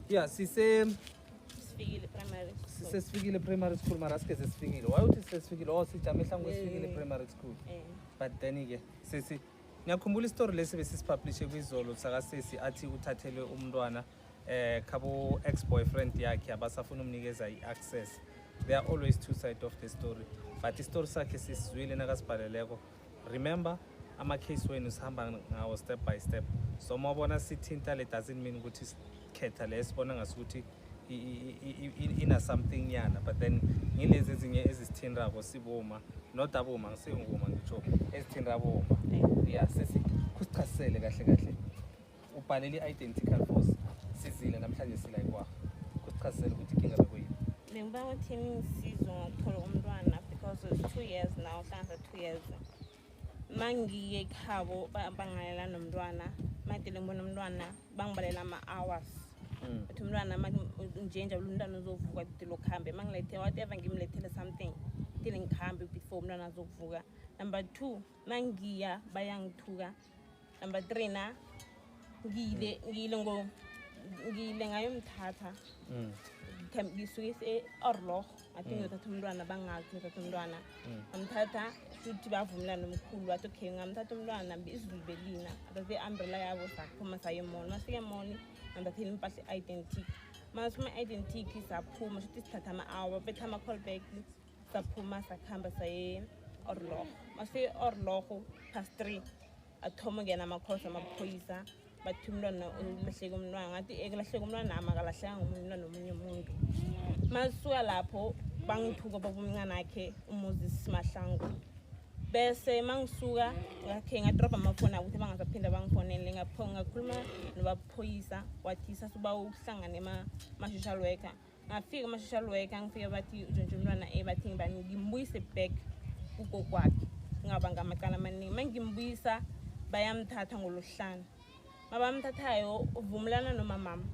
Yeah, sise sifikile primary school. Sesifikile primary school mara sike sesifikile. Why uthi sesifikile? Oh sijame hlangu sifikile primary school. Eh. But then ke sisi ngiyakhumbula istory lesi besisipublishe kwizolo saka sisi athi uthathelwe umntwana eh khabo ex boyfriend yakhe abasafuna umnikeza iaccess. There are always two sides of the story. But istory sakhe sisizwile nakasibhaleleko remember ama-case wenu sihamba ngawo step by step so uma ubona sithinta le doesn't mean ukuthi sikhetha le sibona ngaso ukuthi ina-something nyana but then ngilezi ezinye ezisithintako sibuma not abuma ngisinguma ngitsho ezithinta buma ya sesichasisele kahle kahle ubhalele i-identical force sizile namhlanje sila ikwaha kusichazisela ukuthi inkinga bekuyini bengiba ukuthi ngisizo ngokuthola umntwana because it's two years now hlanza two years ma ngiye ekhabo bangalela nomntwana madele ngibona umntwana bangibalela ama-hours hmm. ukuthi umntwana njenje ulu mntwana uzovuka dile okuhambe ma ngilethele whatever ngimlethele something dile ngihambe before umntwana azokuvuka number two ma ngiya bayangithuka number 3 na ngile mm. ngile ngo ngile ngayo mthatha mm ngisuke se orloh athi mm. ngiyothatha umntwana bangazi ngiyothatha umntwana mm. ngamthatha futhi bavumelana nomkhulu wathi okay ngamthatha umntwana izulu belina athathe i-umbrella yabo saphuma saye emoni masike emoni ngamthathela impahla i-identity masuma i-identity saphuma shuthi sithatha ama-hour betha ama-call back saphuma sakuhamba saye orlogo mase orlogo past three athoma ungena amakhosi amaphoyisa bathi umntwana ulahleke umntwana ngathi ekulahleka eh, umntwana ama kalahleka ngomntwana omunye umuntu masuka lapho bangithuka babumncane akhe umuzi simahlangu bese mangisuka ngakhe ngadrobha amafoni akuthi bangazaphinde bangifonele ngakhuluma nobaphoyisa wathi sasuba ukuhlangana ema-social worker ngafika ama-social worker ngifike bathi ujontshe umntwana e bathi ngibani ngimbuyise back kugokwakhe ngaba ngamacala amaningi uma ngimbuyisa bayamthatha ngoluhlanu ma bamthathayo uvumelana nomamama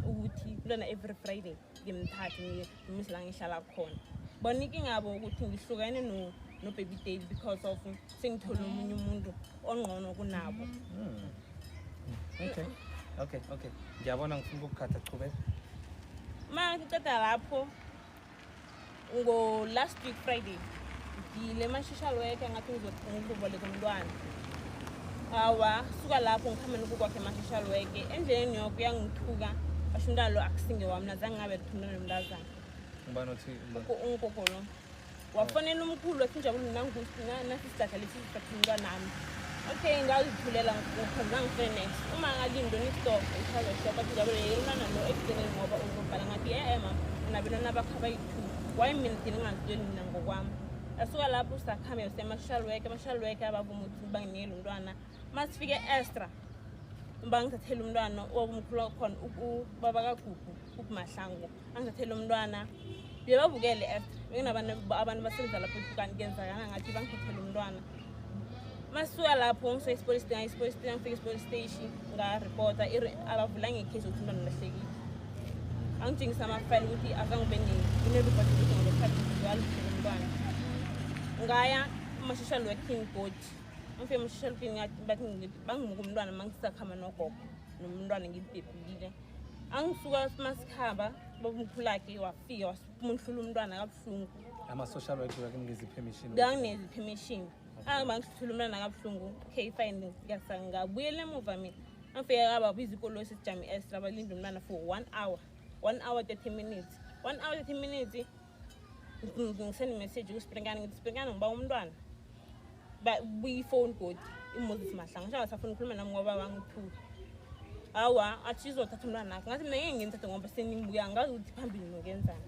ukuthi kulona every friday ngimthathe ngimuyise la ngihlala khona bona inkingabo ukuthi ngihlukane nobaby date because of sengithole omunye umuntu ongqono kunabo hmm. okay okay okay ngiyabona ngifuna ukukhatha chubeka ma ngiceda lapho ngo-last week friday ngile ma-social worker ngathi ngizoboleka umntwana awa suka lapho ngihamba nokukwakhe ma-social worker endleleni yoko uyangithuka basho umntwana lo akusinge wami nazange ngabe kuthumela nomntazana ungubani othi ungugogolo wafonela umkhulu wathi njabulu nanasisidakha lesi sisakhululwa nami okay ngazithulela ngikupha zangifune next uma ngalindo nistop ichaza shop athi njabulu yelulana lo ekugcineni ngoba uzobhala ngathi ye ema unabelona bakho abayi-two why mina thina ngazitsheli mina ngokwami asuka lapho usakhambe usemasocial work ama-social work abavuma ukuthi banginikele umntwana uma sifike estra bangithathele umntwana okumkhulu wakhona ubaba kagugu ubumahlangu angithathele umntwana bebabukele at bekunabantu abantu basemdlala futhi kanti kenzakana ngathi bangithathele umntwana masuka lapho ngise i-sport station i-sport station ngifika i-sport station ngaripota abavula ngekhesi ukuthi umntwana lahlekile angitshengisa amafayile ukuthi akangibe ngineripoti ukuthi ngolokhathi walithele umntwana ngaya ama-social working body ngifike ama-social working bathi bangimuka umntwana mangisakhama nogogo nomntwana ngibhebhile angisuka masikhaba babumkhulakhe wafika wamunhlula umntwana kabuhlungu ama-social work wakungiza i-permission ngangineza i-permission angaba ngisithula umntwana kabuhlungu okay fine ngabuyela emuva mina angifike kababiza ikolo sesijame estra balinde umntwana for one hour one hour 30 minutes one hour 30 minutes ngisend message kusprinkane ngithi sprinkane ngiba umntwana buyifoni godi imoses mahlanga ngisho angasafuni ukhuluma nami ngoba wangithuka awa athi izothatha umntwana akhe ngathi mina ngeke ngimthathe ngoba senimbuya ngazi ukuthi phambili nokenzani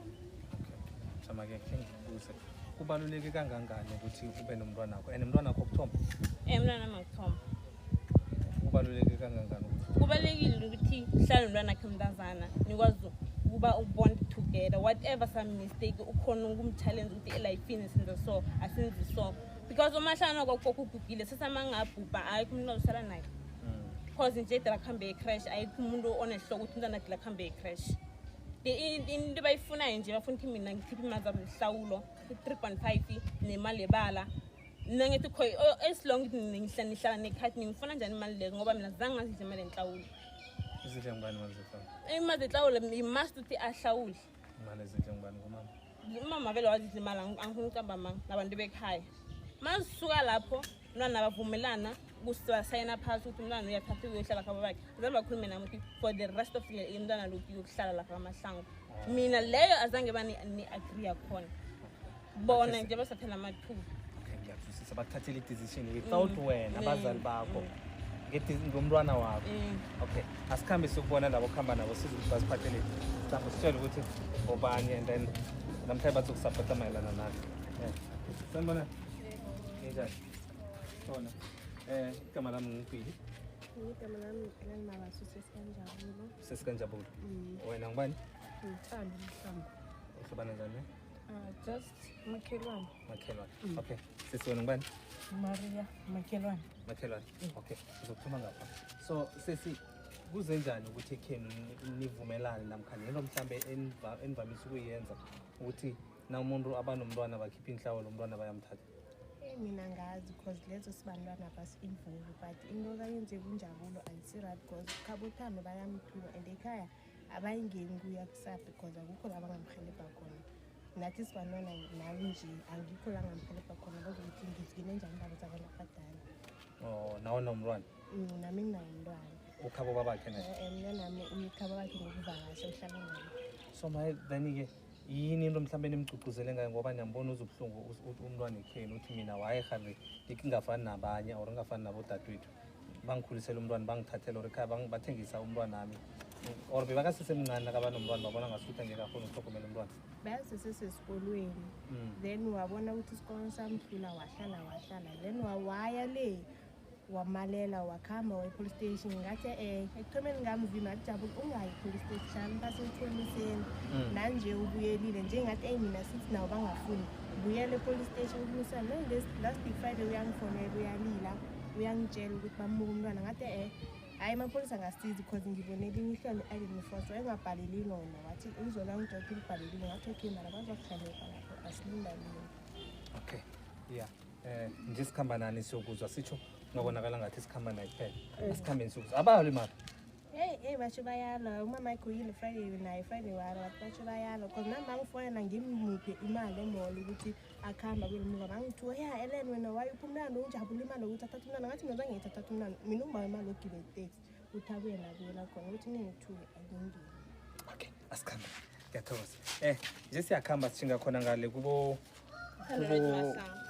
samake khengibuze kubaluleke kangangani ukuthi ube nomntwana wakho and mntwana wakho okuthomba um mntwana wami akuthomba kubaluleke kangangani kubalulekile ukuthi hlale nomntwana khe mntazana nikwazi ukuba ubond together whatever some mistake ukhona ukumchallenge ukuthi elifini senze so asenzi so because uma hlana kokoko ugugile sesamangabhubha ayikho umuntu ozosala naye because hmm. nje dela kuhambe ecrash ayikho umuntu onehloko ukuthi umntwana dela kuhambe ecrash into bayifunayo nje bafuna ukuthi mina ngikhiphe imali zabo zihlawulo i-three point five nemali yebala mina ngithi kho oh, as long ngihlala nihlala nekhathi ningifuna njani imali leyo ngoba mina zange ngazidla imali enhlawulo izidla ngubani imali zehlawulo imali zehlawulo imust ukuthi ahlawule imali ezidla ngubani ngomama umama vele wazidla imali angifuna ukucamba manga nabantu bekhaya ma zisuka lapho umntwana bavumelana kusayina phasi ukuthi umntwana uyathatha uyohlala khaba bakhe zalo bakhulume nami ukuthi for the rest of the umntwana lokhu yokuhlala lapha amahlango mina leyo azange bani-agree yakhona bona nje basaphela amathuba okay ngiyakuzwisisa bakuthathela i-decision without mm. wena abazali bakho mm. ngomntwana wakho mm. okay asikhambe siyokubona labo kuhamba nabo size ukuthi basiphathele mhlawumbe sitshele ukuthi obani and then namhlanje bathi ukusapota mayelana nathi sanibona njani khona um igama lami ngipili igama lami ngilanimalaso sesikanjabulo sesikanjabulo wena ngubani ngithanda umhlango uhlobana njani Uh, just makhelwane. Makhelwane. Mm. Okay. Sisi wena ngubani? Maria makhelwane. Makhelwane. Mm. Okay. Sizophuma ngapha. So sisi kuze njani ukuthi ekhenu nivumelane namkha nento mhlambe enivamise ukuyenza ukuthi na umuntu abanomntwana bakhipha inhlawo lo mntwana bayamthatha eyi eh, mina ngazi because lezo sibantwana basi-involve but into kayenze kunjabulo ayisiraht because khabothame bayamthuka and ekhaya abayingeni kuya kusa because akukho la bangamhelebha khona nathi sibanona nami nje angikho la ngamhelebha khona kodwa ukuthi ngizigine njani indaba zabantu abadala o nawe nomntwana mm, nami nginayo mntwana ukhabo babakhe naye eh, eh, mna nami umkhabo bakhe ngokuvakasha uhlala naye so maye then-ke yini into mhlawumbe nimgcugcuzele ngayo ngoba niyambona uze ubuhlungu umntwana ekheni uthi mina wayehabe ndikingafani nabanye or ngingafani nabodadewethu bangikhulisela umntwana bangithathela or ekhaya bathengisa umntwana ami or bebakasesemncane nakaba nomntwana babona ngasuthi angeke akhona ukuhlogomela umntwana beyasesesesikolweni mm. then wabona ukuthi isikolo samhlula wahlala wahlala then wawaya le wamalela wakuhamba waye-police station ngathi um ekuthomeni ngamvima ajabula ungayi police station basemthoniseni mm. nanje ubuyelile njengathi eyi mina sithi nawo bangafuni buyela e-police station ubunisana last week friday uyangifonela uyalila uyangitshela ukuthi bamuka umntwana ngathi e hhayi amapholisa angasizi because ngibone elinye ihlelo i-identity force wayengabhaleli lona wathi uzona ngidokhe ulibhalelile ngathi okay mara bazokuhlangeka lapho asilindalini okay ya um nje sikhamba nani siyokuzwa sitsho ngabonakala ngathi sikhamba naye kuphela eh. asikhambeni siyokuzwa abayalo imali Hey, hey, basho bayalo umama wakho yini Friday naye Friday walo basho bayalo because nami bangifonela ngimuphe imali emall ukuthi akhamba kuyelimuka bangithi oya elen wena wayiphi umntana ungijabula imali yokuthi athatha umntana ngathi mina zange ngithathatha umntana mina ungibawa imali yokugiba iteksi ukuthi abuye nabuyela khona ukuthi ningithuke angingile okay asikhambe ngiyathokoza um nje siyakuhamba sishinga khona ngale kubo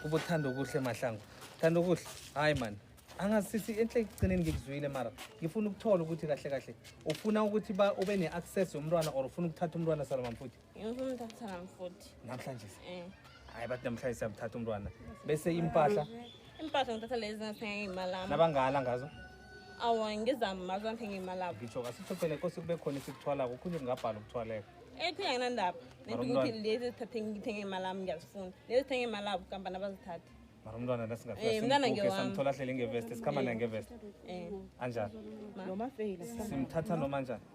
kubo thanda okuhle mahlango thanda okuhle hayi mani angasisi enhle ekugcineni ngikuzwile mara ngifuna ukuthola ukuthi kahle kahle ufuna ukuthi ba ube ne-access yomntwana or ufuna ukuthatha umntwana salomamfuthi ngifuna umthatha namfuthi namhlanje eh hayi bathi namhlanje siyamthatha umntwana bese impahla impahla ngithatha lezi ngathenga ngeyimalami nabangala ngazo awa ngizama mazo ngithenga ngeyimalabo ngitsho kasithophele nkosi kube khona isikuthwalako ukhunye kungabhala ukuthwaleka ekhunye anginandaba nento ukuthi lezi ezithathe ngithenge imalami ngiyazifuna lezi zithenge imalabo kampani abazithathe mara umntwana nasingasamthola eh, ahlele ngevest sikhamba naye ngevest eh. anjani simthatha noma njani